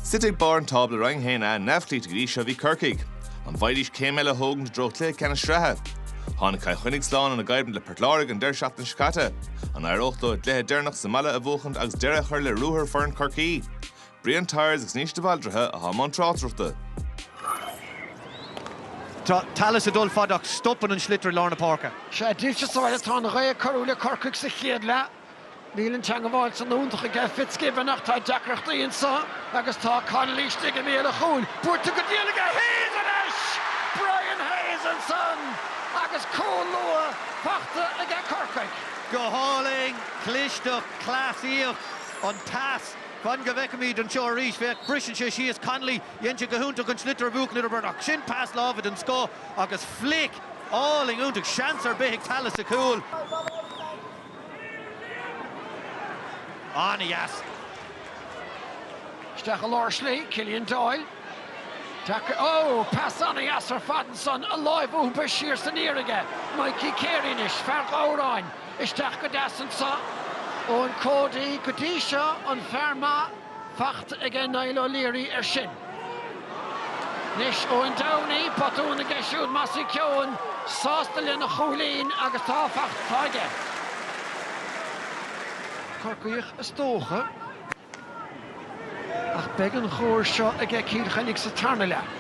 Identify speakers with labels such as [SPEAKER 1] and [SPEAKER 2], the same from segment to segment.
[SPEAKER 1] Suite ag barr an tábla Roinn 1A neamhchloíte go dtí seo bhí Corcaigh. An bhfaighidís céim eile a thógaint i dtreo chluiche ceannais sraithe? Tháinig Cill Chainnigh slán óna gcoimhlint le Port Láirge an deireadh seachtaine seo caite. An éireodh leo a gcluiche deireanach sa mbaile a bhuachaint agus deireadh a chur le ruathar foireann Chorcaí? Brian Tyers agus Naoise de Bhaldraithe atá i mbun
[SPEAKER 2] tráchtaireachta. Tá Tallis ag dul fada ach stopann an sliotar i lár na páirce. Sé dílse sa bhaile
[SPEAKER 3] atá an ghaoth ag cabhrú le Corcaigh sa chéad leath. Níl an teangabháil san iontach aige Fitzgibbon ach tá deacrachtaí anseo agus tá Connolly istigh i mbéal an chúil buailte go diail aige. Hayes anois! Brian Hayes ansan agus cúl luath faighte aige Corcaigh. Go hálainn,
[SPEAKER 2] clisteacht, cleasaíocht, an-deas. Fan go bhfeicfimid anseo arís. Féach, briseann sé síos Connolly. Dhein sé go hiontach an sliotar a bhuachan idir beirt ach sin pas láimhe den scoth agus flic álainn iontach. Seans ar bith ag Tallis sa chúl.
[SPEAKER 3] An-dheas. Isteach i lár slí, Killian Doyle. Taca, ó, pas an-dheas ar fad ansan, an lámh iompaithe siar san aer aige. Mikey Carey anois, fear Ghabhráin. Isteach go deas ansan. Eoin Cody, go dtí seo an fear maith. fachta aige Niall O'Leary air sin. Anois Eoin Downey, botún aige siúd Mossy Keoghan sásta lena chúilín agus tá fachta aige. Corcaíoch is dócha. Ach beidh an chóir seo aige Cill Chainnigh sa tarna leath.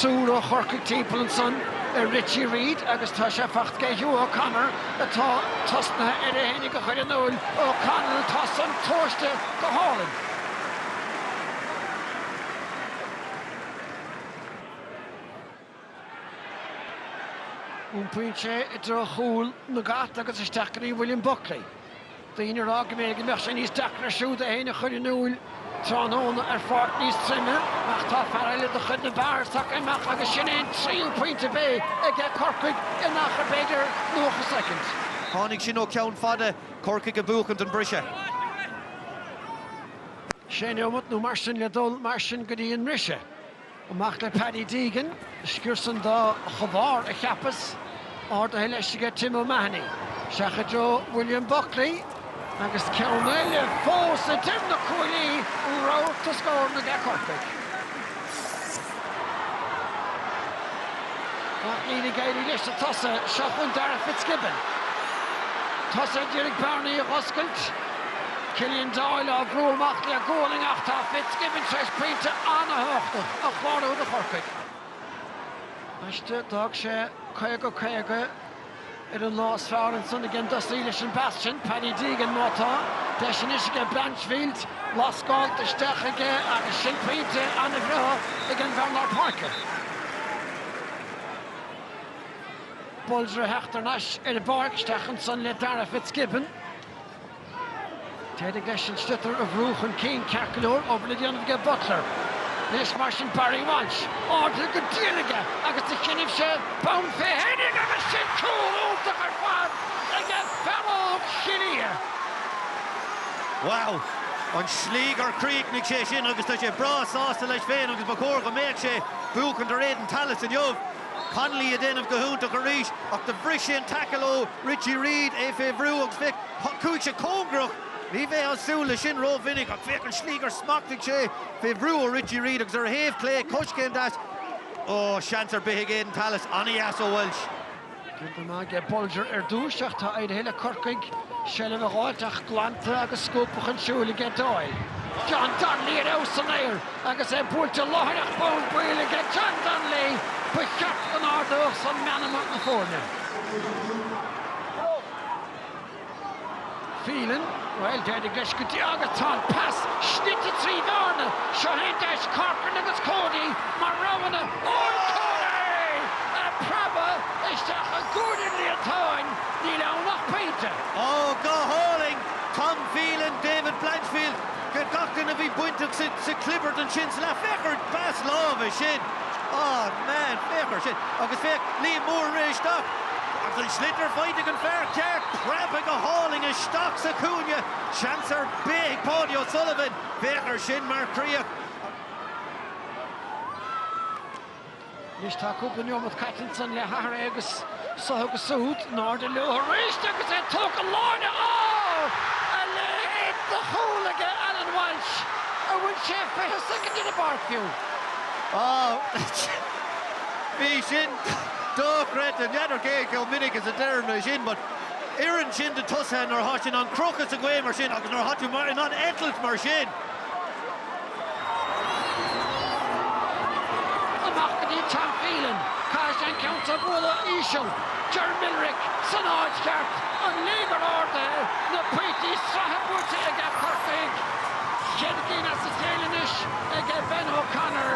[SPEAKER 3] Triúr ó Chorcaigh timpeall ansan ar Richie Reid agus tá sé faighte aige Hugh O'Connor atá tosnaithe air fhéinig a chur in iúil. O'Connell, tá san tomhaiste go hálainn. Iompaíonn sé i dtreo chúl na gCat agus isteach go dtí William Buckley. daoine ag rá go mb'fhéidir go mbeadh sé níos deacra air siúd é féin a chur in iúil tráthnóna ar pháirc níos troime, ach tá fear eile de chuid na Barrs tagtha amach agus sin é an tríú pointe a bheidh aige Corcaigh in achar b'fhéidir 90 soicind. Tháinig sin
[SPEAKER 2] ó cheann fada Corcaigh ag buachaint an
[SPEAKER 3] briseadh. Sé neomat nó mar sin le dul mar sin go dtí an mbriseadh. Amach le Paddy Deegan, sciúrsann do chomhbhár a cheapas, ardaithe leis aige Tim O'Mahony. Isteach i dtreo William Buckley agus ceann eile fós idir na cuaillí, rabharta scóranna aige Corcaigh. Ach níl ag éirí leis an tosaí. Seo chugainn Darragh Fitzgibbon. Tosaithe d'iarraidh bearnaí a dh'oscailt. Killian Doyle á bhrú amach le gualainn ach tá FitzGibbon tar éis pointe an-thabhachtach a chlárú do Chorcaigh. D'fhág sé 50-50 ar an lá is fearr ansan ag an dtosaí leis an bpas sin, Paddy Deegan, má tá. Deis anois aige Blanchfield lascáilt isteach aige agus sin pointe an-bhreá ag an bhfear lár páirce. Bolger a theacht thar n-ais ar an bpáirc, isteach ansan le Darragh FitzGibbon. D'éirigh leis an sliotar a bhrú chun cinn ceart go leor, obair le déanamh aige Butler. Anois mar sin Barry Walsh, ardaithe go diail aige agus do choinnibh sé bonn fé féinig agus sin cúl iontach ar fad aige fear óg Chill
[SPEAKER 2] Ia. Wow! An slí gur chríochnaigh sé sin agus tá sé breá sásta leis féin agus ba chóir go mbeadh sé, buachaint ar Aidan Tallis inniu. Connolly ag déanamh go hiontach arís ach do bhris sé an taicil ó Richie Reid, é fé bhrú agus féach, chuaigh sé cóngarach, ní bheifeá ag súil leis sin rómhinic, ach féach an slí gur smachtaigh sé fé bhrú ó Richie Reid agus ar a thaobh chlé, coiscéim deas, ó, seans ar bith ag Aidan Tallis, an-dheas ó Walsh. Déanta go maith
[SPEAKER 3] aige Bolger ar dtús, ach tá éirithe le Corcaigh seilbh a dh'fháilt ach glanta agus scuabtha chun siúil aige Doyle. John Donnelly ar fheabhas san aer agus é buailte láithreach bonn baill aige. John Donnelly, ba cheart go n-ardódh san meanma na foirne. Phelan, Bhuel, d'éirigh leis go diail agus tá an pas snoite trí bhearna. Seo é an deis, Corcoran agus Cody mar roghanna Eoin Cody á phreabadh isteach i gcúinne an líontáin, níl ann ach pointe. Ó,
[SPEAKER 2] go hálainn! Tom Phelan, David Blanchfield, gach duine a bhí bainteach sa chlibirt ansin sa leath. Féach ar an bpas láimhe sin! Á, man, féach air sin. Agus féach, Liam Moore arís, ach. Ach an sliotar faighte ag an bhfear ceart, preabtha go hálainn isteach sa chúinne. Seans ar bith ag Paudie O'Sullivan. Féach air sin mar chríoch.
[SPEAKER 3] Anois tá cúpla neomat caite ansan le hathruithe agus suaitheadh agus súd in airde leo arís agus é tógtha glan. Á! A leithéid de chúl aige Alan Walsh! An bhfuil sé fiche soicind ar an bpáirc fiú? Á!
[SPEAKER 2] Bhí sin. dochreidte. N'fheadar cé chomh minic is a deirim é sin, but oireann sin do thosaithe nuair atá sin ar crochadh sa ghaoth mar sin agus nuair atá tú mar in ann eitilt mar sin.
[SPEAKER 3] Amach go dtí Tom Phelan, caithfidh sé an ceann so a bhualadh íseal, Ger Millerick san áit cheart, an léigear ardaithe, na pointí sraithe buaite aige Corcaigh, ceithre cinn as a chéile anois aige Ben O'Connor.